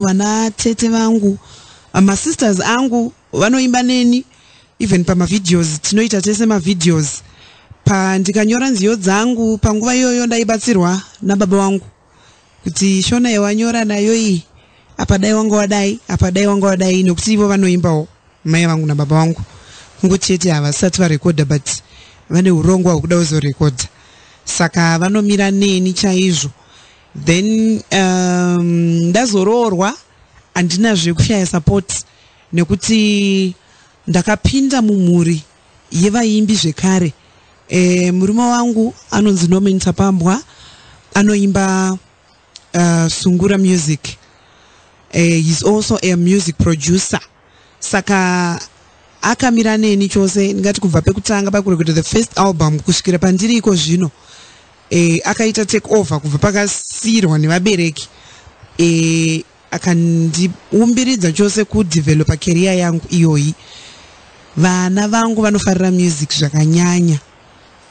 vana tete vangu masisters angu vanoimba neni even pamavideos tinoita tese mavideos pa ndikanyora nziyo dzangu panguva iyoyo ndaibatsirwa nababa wangu kuti shona yewanyora nayo iyi apa dai wanga wadai apa dai wanga wadai nokuti ivo vanoimbawo mai vangu nababa vangu kungo chete havasati varekodha but vane urongwa hwekuda kuzorekodha saka vanomira neni chaizvo then um, ndazoroorwa handina zvekushaya support nekuti ndakapinda mumhuri yevaimbi zvekare e, murume wangu anonzi norman tapambwa anoimba uh, sungura music e, he's also a music producer saka akamira neni chose ndingati kubva pekutanga pakureketa the first album kusvikira pandiri iko zvino e, akaita take over kubva pakasiirwa nevabereki e, akandiumbiridza chose kudevelopa keriya yangu iyoyi vana vangu vanofarira music zvakanyanya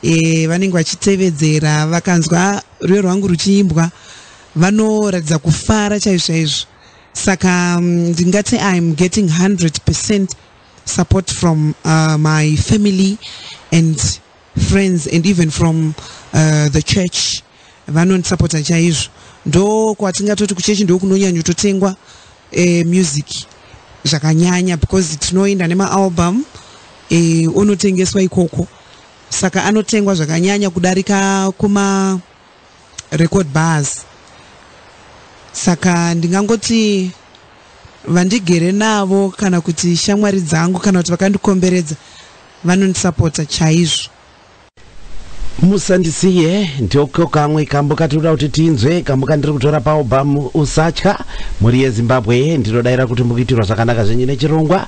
e, vanenge vachitevedzera vakanzwa rwuyo rwangu ruchiimbwa vanoratidza kufara chaizvo chaizvo saka mm, ndingati im getting 100 percent support from uh, my family and friends and even from uh, the church vanondisapota chaizvo ndo kwatingatoti kuchechi ndo kunonyanyototengwa eh, music zvakanyanya because tinoenda nemaalbum eh, onotengeswa ikoko saka anotengwa zvakanyanya kudarika kuma record bars saka ndingangoti vandigere navo kana kuti shamwari dzangu kana kuti vakandikomberedza vanondisapota chaizvo musandisiye ndiko kamwe kambo katinoda kuti tinzwe kambo kandiri kutora paalbum usatya mhuri yezimbabwe ndinodaira kuti mukuitirwa zvakanaka zvenyu nechirongwa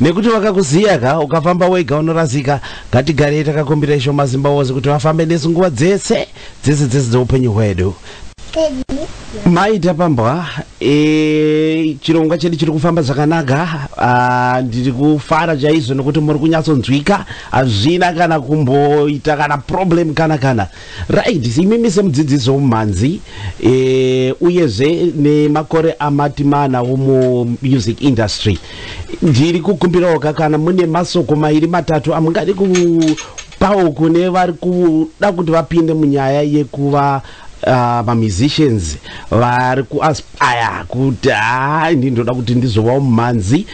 nekuti vakakuziya ka ukafamba wega unorasika ngatigarei takakumbira isho mazimba wose kuti vafambe nesu nguva dzese dzese dzese dzeupenyu hwedu maita pambwa e, chirongwa chedu chiri kufamba zvakanaka ah, ndiri kufara chaizvo nokuti muri kunyatsonzwika hazvina kana kumboita kana problem kana kana Right, imimi semudzidzisi womumhanzi eh, uyezve nemakore amati mana womuMusic Industry, ndiri kukumbirawo ka kana mune masoko mairi matatu amungadi kupawo kune vari kuda kuti vapinde munyaya yekuva uh, mamusicians vari kuaspire kuti haa ndi ndoda kuti ndizovawo mumhanzi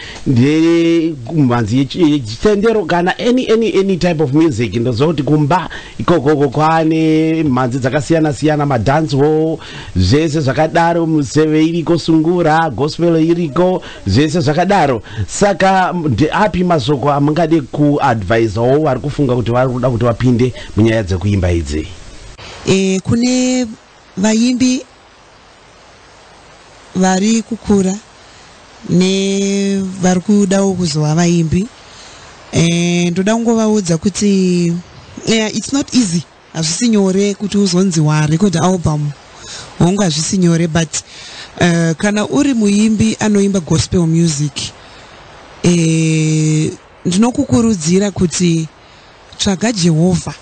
mumhanzi yechitendero kana any, any, any type of music ndoziva kuti kumba ikokoko kwane mhanzi dzakasiyana siyana madance hall zvese zvakadaro museve iriko sungura gospel iriko zvese zvakadaro saka ndeapi mashoko amungade kuadvisawo vari kufunga kuti vari kuda kuti vapinde munyaya dzekuimba idzi e, kune vaimbi vari kukura nevari kudawo kuzova vaimbi eh, ndoda kungovaudza kuti yeah, it's not easy hazvisi nyore kuti uzonzi warecord album hongu hazvisi nyore but uh, kana uri muimbi anoimba gospel music eh, ndinokukurudzira kuti Tsvaga Jehovha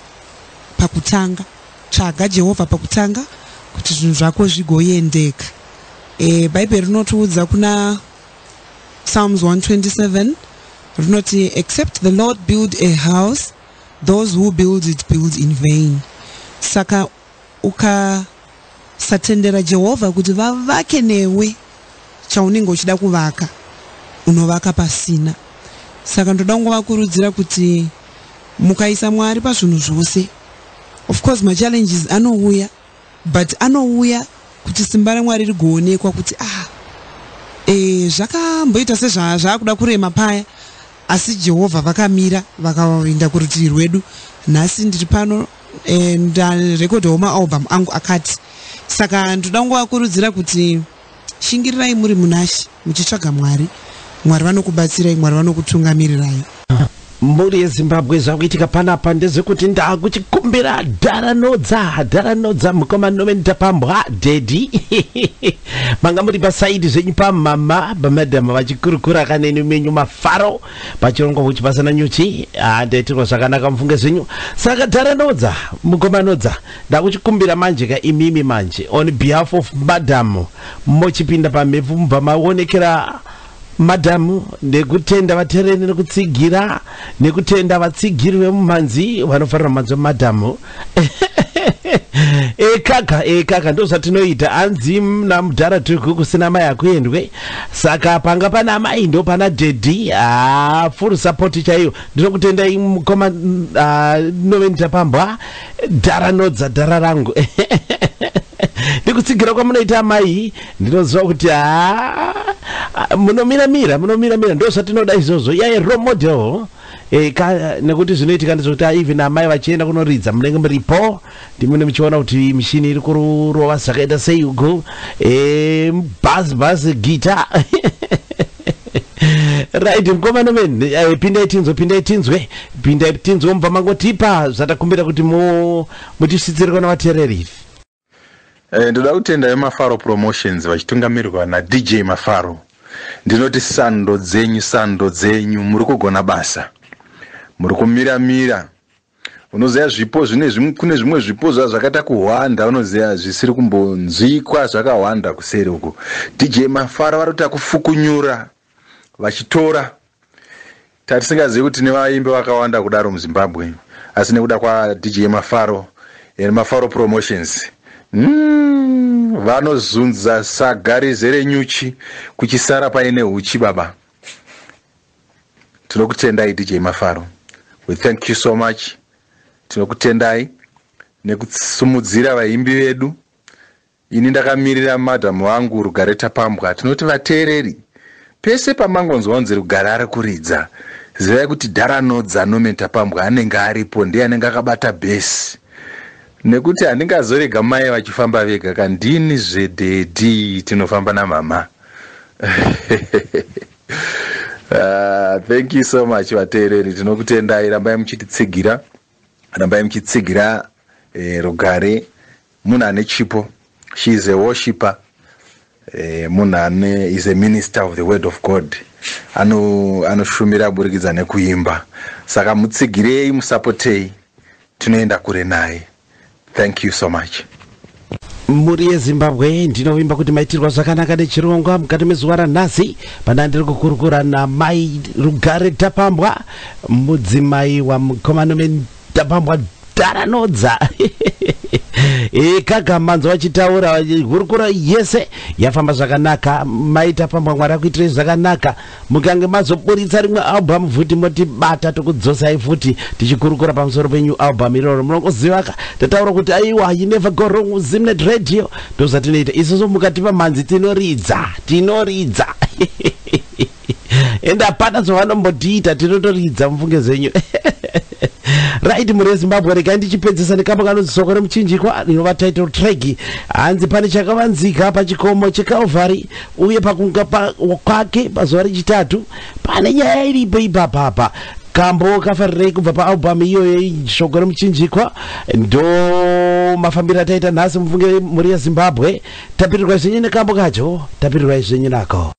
pakutanga. Tsvaga Jehovha pakutanga kuti zvinhu zvako zvigoendeka. E, Bhaibheri rinotiudza kuna Psalms 127 rinoti except the Lord build a house those who build it build in vain. Saka ukasatendera Jehovha kuti vavake newe chaunenge uchida kuvaka, unovaka pasina. Saka ndoda kungovakurudzira kuti mukaisa Mwari pazvinhu zvose, of course machallenges anouya but anouya kuti simba raMwari rigoonekwa kuti ah, eh, zvakamboita sezvaakuda kurema paya asi Jehovha vakamira vakaenda kurutivi rwedu. Nhasi ndiri pano. eh, ndarekodha homa album angu akati saka ndoda kungovakurudzira kuti shingirirai muri munashe muchitsvaga mwari mwari vanokubatsirai mwari vanokutungamirirai mhuri yezimbabwe zvakuitika panapa ndezvekuti ndakuchikumbira dharanodza dharanodza mukoma noven tapambwa dhedhi manga muri pasaidi zvenyu pamama pamadhama vachikurukura kaneni menyu mafaro pachirongwa kuchi pasina nyuchi handaitirwa ah, zvakanaka mufunge zvenyu saka dhara nodza mukoma nodza ndakuchikumbira manje ka imimi manje on behalf of madam mochipinda pamhepo mubva maonekera madhamu nekutenda vatereni nekutsigira nekutenda vatsigiri vemumhanzi vanofarira mhanzi vemadhamu ekaka ekaka ndozvatinoita hanzi namudhara tuku kusina mai akuendwe saka panga pana mai ndo pana dedi haa ah, full support chaiyo ndinokutendai mukoma ndinove ah, ndichapambwa dhara nodza dhara rangu ndikutsigira kwamunoita amai ndinoziva kuti haa ah, munomiramira munomiramira ndozvatinoda izvozvo yaye role model Eh, ka, nekuti zvinoitika ndezvekuti ah, even amai vachienda kunoridza munenge muripo ndimune muchiona kuti mishini iri kurova zvakaita sei uku eh, bhaz bhaz gita right mkomana men eh, pindai tinzwe pindai tinzwe pindai tinzwe mubva mangotipa zvatakumbira kuti mu- mutisvitsire kona vateereri Eh, ndoda kutenda vemafaro promotions vachitungamirirwa nadj mafaro ndinoti sando dzenyu sando dzenyu muri kugona basa muri kumira mira unoziva zvipo zvine kune zvimwe zvipo zva zvakaita kuhwanda unoziva zvisiri kumbonzwikwa zvakahwanda kuseri uku dj mafaro vari kuita kufukunyura vachitora Tatisingazivi kuti tine vaimbi vakawanda kudaro muZimbabwe asi nekuda kwaDJ Mafaro and Mafaro Promotions mm, vanozunza saga rizere nyuchi kuchisara paine huchi baba. Tinokutendai DJ Mafaro. We thank you so much. Tinokutendai nekutisimudzira vaimbi vedu. Ini ndakamirira madam vangu Rugare Tapambwa tinoti vateereri pese pamangonzwa kunzi Rugare ari kuridza zivai kuti Dhara Nodza Norman Tapambwa anenge aripo ndiye anenge akabata bhesi nekuti handingazorega mai vachifamba vega ka ndini zvedhedhi tinofamba namama Uh, thank you so much vateereri tinokutendai rambai muchititsigira rambai muchitsigira eh, rugare Munhu ane chipo she is a worshiper eh, munhu ane is a minister of the word of god anoshumira ano aburikidza nekuimba saka mutsigirei musapotei tinoenda kure naye thank you so much mhuri yezimbabwe ndinovimba kuti maitirwa zvakanaka nechirongwa mukati mezuva ranhasi pana ndiri kukurukura namai rugare tapambwa mudzimai wamukomano Tapambwa dhara nodza. Eh kaka manzo vachitaura hurukuro yese yafamba zvakanaka maita pambwa mwari akuitirei zvakanaka mukange mazoburitsa rimwe album futi motibata tokudzosai futi tichikurukura pamusoro penyu album iroro munongozivaka tataura kuti aiwa you never go wrong zimnet radio ndozvatinoita isusu mukatipa mhanzi tinoridza tinoridza ende hapana zvavanombotiita tinotoridza mufunge zvenyu right mhuri yezimbabwe regai ndichipedzisa nekamba kanonzi soko remuchinjikwa rinova title trag hanzi pane chakavanzika pachikomo checalvary uye pakunga kwake pazuva rechitatu pane nyaya iripo ipapapa kambo kafarirei kubva paalbum iyoyo shoko remuchinjikwa ndo mafambiro ataita nhasi mufunge mhuri yezimbabwe tapirirwa izvenyu nekambo kacho tapirirwa izvenyu nako